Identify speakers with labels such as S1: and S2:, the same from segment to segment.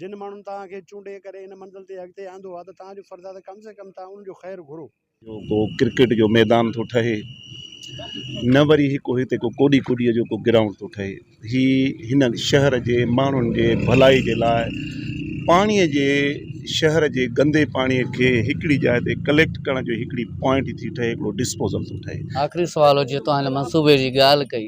S1: جن ماڻهن توهان کي چونڊي ڪري ان منزل تي اڳتي آندو آهي ته توهان جو فرض آهي ته ڪم سي ڪم توهان انهن جو خير گهرو. جو ڪو ڪرڪيٽ
S2: جو ميدان ٿو ٺهي نه وري هي ڪو هتي ڪو ڪوڏي ڪوڏيء جو ڪو گرائونڊ ٿو ٺهي هي هن شهر جي ماڻهن جي ڀلائي جي لاء پاڻيء جي شهر جي گندي پاڻيء کي هڪڙي جاء تي ڪليڪٽ ڪرڻ جو هڪڙي پوائنٽ ٿي ٺهي هڪڙو ڊسپوزل ٿو ٺهي. آخري سوال هو جيئن توهان
S3: هن منصوبي جي ڳالهه ڪئي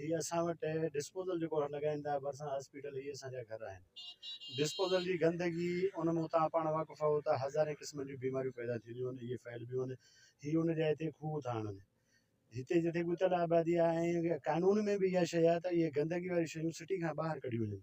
S1: هي اسان وٽ ڊسپوزل جيڪو لڳائين ٿا ڀرسان هاسپيٽل هي اسان جا گهر آهن ڊسپوزل جي گندگي ان مان توهان پاڻ واقف آهيو ته هزارين قسمن جون بيماريون پيدا ٿينديون آهن اهي ڦهلبيون آهن هي ان جاء تي کوهه ٿا هڻن هتي جتي ڳتل آبادي آهي ۽ قانون ۾ به اها شيء آهي ته اهي گندگي واريون شيون سٽي کان ٻاهر ڪڍيون وڃن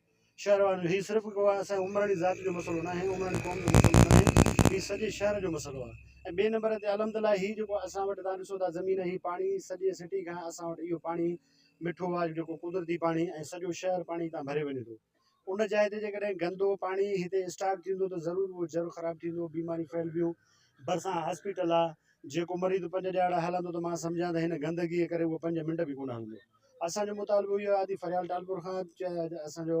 S1: شهر وارن جو هي صرف ڪو اسان عمراڻي ذات جو مسئلو ناهي عمراڻي قوم جو مسئلو ناهي هي سڄي شهر جو مسئلو آهي ۽ ٻئي نمبر تي الحمدلله هي جيڪو اسان وٽ تان ڏسو ٿا زمين هي پاڻي سڄي سٽي کان اسان وٽ اهو پاڻي مٺو آهي جيڪو قدرتي پاڻي ۽ سڄو شهر پاڻي تان ڀري وڃي ٿو ان جاء تي جيڪڏهن گندو پاڻي هتي اسٽاڪ ٿيندو ته ضرور اهو جر خراب ٿيندو بيماريون ڦهلبيون ڀرسان هاسپيٽل آهي جيڪو مريض پنج ڏياڙا هلندو ته مان سمجهان ته هن گندگيء ڪري اهو پنج منٽ به ڪونه هلندو اسان جو مطالبو اهو آهي فريال ٽالپور کان اسان جو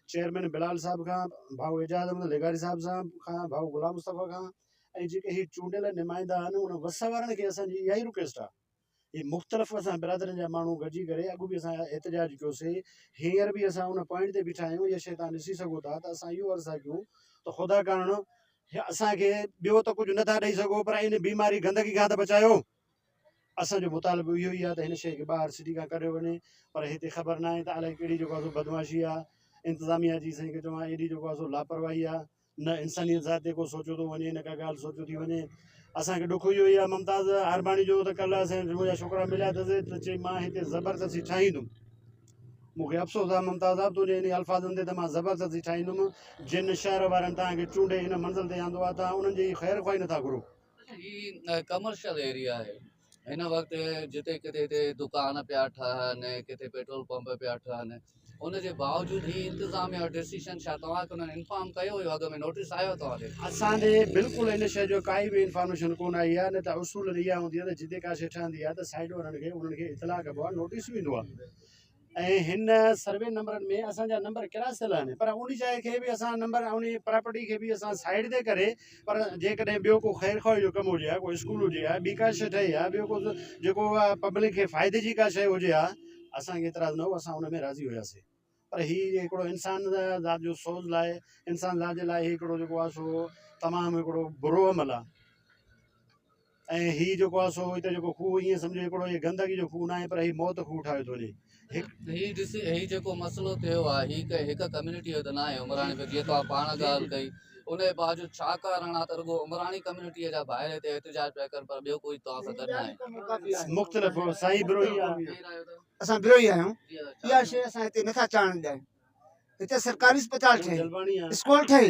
S1: چيئرمين بلال صاحب کان ڀائو اعجاز احمد لغاري صاحب سان کان ڀائو غلام مصطفيٰ کان ۽ جيڪي هي چونڊيل نمائندا آهن ان وس وارن کي اسان جي اها ئي رڪويسٽ آهي هي مختلف اسان برادرين جا ماڻهو گڏجي ڪري اڳ به اسان احتجاج ڪيوسي هينئر به اسان ان پوائنٽ تي بيٺا آهيون اها شيء تان ڏسي سگهو ٿا ته اسان اهو عرض ٿا ڪيون ته خدا ڪارڻ اسان کي ٻيو ته ڪجهه نٿا ڏئي سگهو پر ان بيماري گندگي کان ته بچايو اسان جو مطالبو اهو ئي آهي ته هن شيء کي ٻاهر سٽي کان ڪڍيو وڃي پر هتي خبر ناهي ته الائي ڪهڙي جيڪو آسو بدمعاشي آهي انتظاميا جي سائين کي چوان ايڏي جيڪو آسو لاپرواهي آهي نه انسانيت ذات تي ڪو سوچيو ٿو وڃي نه ڪا ڳالهه سوچيو ٿي وڃي اسان کي ڏک اهو ئي آهي ممتاز هرباڻي جو ته ڪلهه اسان منهنجا ڇوڪرا مليا اٿس ته چي مان هتي زبردستي ٺاهيندم مون کي افسوس آهي ممتاز صاحب تنهنجي ان الفاظن تي ته مان زبردستي ٺاهيندم جن شهر وارن توهان کي چونڊي هن منزل تي آندو آهي توهان انهن جي خير خواهي نٿا گهرو هي
S3: ڪمرشل ايريا آهي هن وقت جتي ڪٿي هتي دڪان پيا ٺهن ڪٿي پيٽرول پمپ پيا ٺهن ان جي باوجود هي انتظاميا جو ڊسيشن ڇا توهانکي انهن انفارم ڪيو هيو اڳ ۾ نوٽيس آيو توهانکي اسان ڏي بلڪل
S1: ان شي جو ڪائي به انفارميشن ڪون آئي آهي نه ته اصولن اها هوندي آهي ته جتي ڪا شي ٺهندي آهي ته سائيڊ وارن کي انهن کي اطلاع ڪبو آهي نوٽيس ويندو آهي ۽ هن سروي نمبرن ۾ اسان جا نمبر ڪراس ٿيل آهن پر انهي جاء کي به اسان نمبر انهي پراپرٽي کي به اسان سائيڊ تي ڪري پر جيڪڏهن ٻيو ڪو خير خواهي جو ڪم هجي ها ڪو اسڪول هجي ها ٻي ڪا شيء ٺهي ها ٻيو ڪو جيڪو پبلڪ کي فائدي جي ڪا شيء هجي ها اسان کي اعتراض نه هو اسان ان ۾ راضي هياسين پر هي هڪڙو انسان ذات جو سوز لاء انسان ذات جي لاء هي هڪڙو جيڪو آهي سو تمام هڪڙو برو عمل آهي ۽ هي جيڪو آهي سو هتي جيڪو کوهه ائين سمجهو هڪڙو هي گندگي جو کوهه ناهي پر هي موت کوهه ٺاهيو ٿو وڃي. هڪ. هي ڏس
S3: هي جيڪو مسئلو ٿيو آهي هي ڪنهن هڪ ڪميونٽيء جو ته ناهي عمراڻي ڀت جيئن توهان پاڻ ڳالهه ڪئي انهيء باوجود ڇا ڪارڻ آهي ته رڳو عمراڻي ڪميونٽيء جا ڀائر هتي احتجاج پيا ڪن پر ٻيو ڪوئي توهان سان گڏ ناهي. مختلف سائين
S1: بروهي آهيو. اسان بروهي
S4: آهيون اها شيء اسان هتي نٿا چاڙهڻ ڏيائون هتي سرڪاري اسپتال ٺهي اسڪول ٺهي.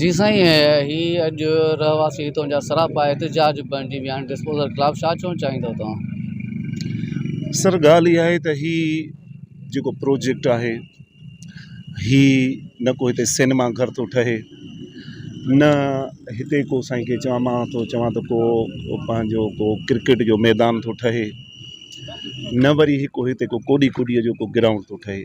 S4: جي سائين هي
S3: اڄ رهواسي هتون جا سراپا احتجاج بڻجي ويا آهن ڊسپوزل خلاف ڇا چوڻ چاهيندو توهان؟ سر ڳالهه
S2: اها آهي ته هي جيڪو پروجيڪٽ آهي هي نه ڪو هتي سينما گهر ٿو ٺهي نه هتي ڪو سائين کي چوان مان ٿو چوان ته ڪو پنهنجو ڪو ڪرڪيٽ جو ميدان ٿو ٺهي نه وري هي ڪو هتي ڪو ڪوڏي ڪوڏيء جو ڪو گرائونڊ ٿو ٺهي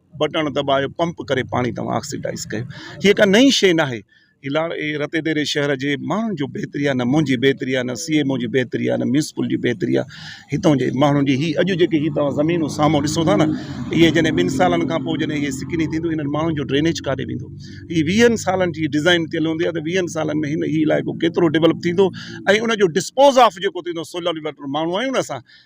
S2: بٽڻ دٻايو پمپ ڪري پاڻي توهان آڪسيڊائيز ڪيو هي ڪا نئين شئي ناهي هي لاڙ اي رتي ديري شهر جي ماڻهن جو بهتري آهي نه منهنجي بهتري آهي نه سي ايم او جي بهتري آهي نه ميونسپل جي بهتري آهي هتون جي ماڻهن جي هي اڄ جيڪي هي توهان زمينون سامهون ڏسو ٿا نه اهي جڏهن ٻن سالن کان پوء جڏهن هي سڪني ٿيندو هنن ماڻهن جو ڊرينيج ڪاڏي ويندو هي ويهن سالن جي ڊيزائن ٿيل هوندي آهي ته ويهن سالن ۾ هن هي علائقو ڪيترو ڊيولپ ٿيندو ۽ ان جو ڊسپوز آف جيڪو ٿيندو سولر ماڻهو آهيون نه اسان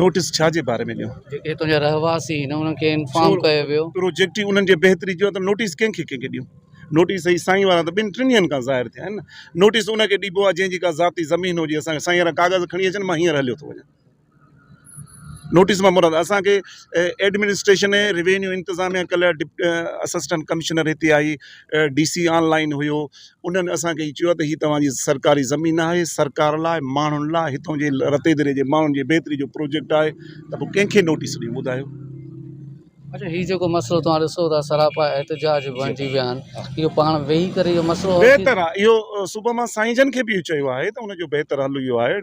S3: نوٽيس ڇا
S2: جي باري ۾ ڏيون. جيڪي هتون جا رهواسي
S3: آهن انهن کي انفارم ڪيو ويو. پروجيڪٽ انهن جي بهتري
S2: جو ته نوٽيس ڪنهن کي ڪنهن کي ڏيون. نوٽيس هي سائين وارا ته ٻن ٽن ڏينهن کان ظاهر ٿيا آهن نه. نوٽيس ان کي ڏبو آهي جنهن جي ڪا ذاتي زمين هجي اسان کي سائين ڪاغذ کڻي اچن مان هينئر هليو ٿو وڃان. نوٽيس مان مراد اسان کي ايڊمنسٽريشن ۽ روينيو انتظاميا ڪلهه اسسٽنٽ ڪمشنر هتي I D C online هيو انهن اسان کي چيو ته هي توهان جي سرڪاري زمين آهي سرڪار لاء ماڻهن لاء هتان جي رتي دري جي ماڻهن جي بهتري جو پروجيڪٽ آهي ته پوء ڪنهن کي نوٽيس ڏيون ٻڌايو
S3: اچا هي جيڪو مسئلو توهان ڏسو ٿا سراپا احتجاج بڻجي ويا آهن اهو پاڻ ويهي ڪري اهو مسئلو بهتر آهي اهو
S2: صبح مان سائين جن کي به اهو چيو آهي ته ان جو بهتر حل اهو آهي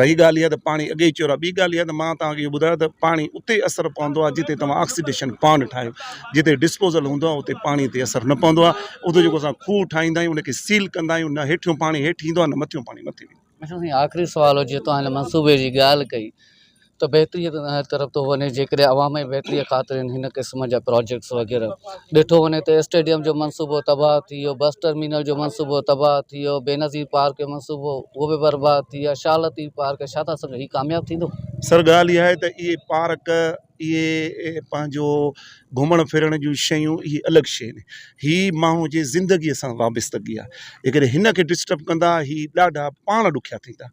S2: رهي ڳالهه اها ته پاڻي اڳي ئي چيو آهي ٻي ڳالهه اها ته مان توهان کي اهو ٻڌايو ته پاڻي اتي اثر پوندو آهي جتي توهان آڪسيڊيشن پانڊ ٺاهيو جتي ڊسپوزل هوندو آهي اتي پاڻي تي اثر نه پوندو آهي اتي جيڪو اسان کوهه ٺاهيندا آهيون ان کي سيل ڪندا آهيون نه هيٺيون پاڻي هيٺ ايندو آهي نه مٿيون پاڻي مٿي ويندو آهي مشرف سائين آخري سوال هو
S3: جيئن توهان هن منصوبي جي ڳالهه ڪئي ته بهتري ته هر طرف ٿو وڃي جيڪڏهن عوام جي بهتري خاطر هن قسم جا پراجيڪٽس وغيره ڏٺو وڃي ته اسٽيڊيم جو منصوبو تباهه ٿي ويو بس ٽرمينل جو منصوبو تباهه ٿي ويو بينظير پارڪ جو منصوبو هو به برباد ٿي ويو شاهه لطيف پارڪ ڇا ٿا سمجهو هي ڪامياب ٿيندو؟ سر ڳالهه اها آهي
S2: ته اهي پارڪ اهي پنهنجو گهمڻ ڦرڻ جون شيون اهي الڳ شيون آهن هي ماڻهو جي زندگي سان وابستگي آهي جيڪڏهن هن کي ڊسٽرب ڪندا هي ڏاڍا پاڻ ڏکيا ٿيندا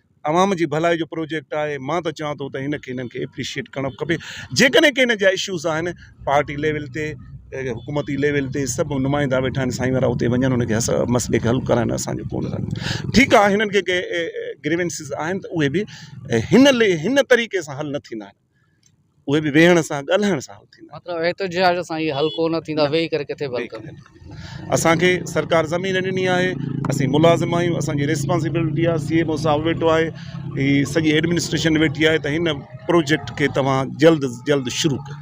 S2: عوام جي ڀلائي جو پروجيڪٽ آهي مان ته چوان ٿو ته هن کي هنن کي ايپريشيٽ ڪرڻ کپي جيڪڏهن ڪنهن جا اشوز آهن پارٽي ليول تي حڪومتي ليول تي سڀ نمائندا ويٺا آهن سائين وارا اتي وڃن ان کي حس مسئلي کي حل ڪرائن اسانجو ڪو نه ٺيڪ آهي هنن کي ڪي گريونسز آهن ته اهي به هن لي هن طريقي سان حل نه ٿيندا آهن اهي به ويهڻ سان ڳالهائڻ سان حل ٿيندا. مطلب احتجاج سان اهي
S3: حل ڪونه ٿيندا ويهي ڪري ڪٿي به حل ڪندا. اسان کي سرڪار
S2: زمين ڏني آهي اسين ملازم آهيون اسان جي ريسپانسبلٽي آهي سي ايم او صاحب ويٺو آهي هي سڄي ايڊمنسٽريشن ويٺي آهي ته هن پروجيڪٽ کي توهان جلد جلد شروع ڪيو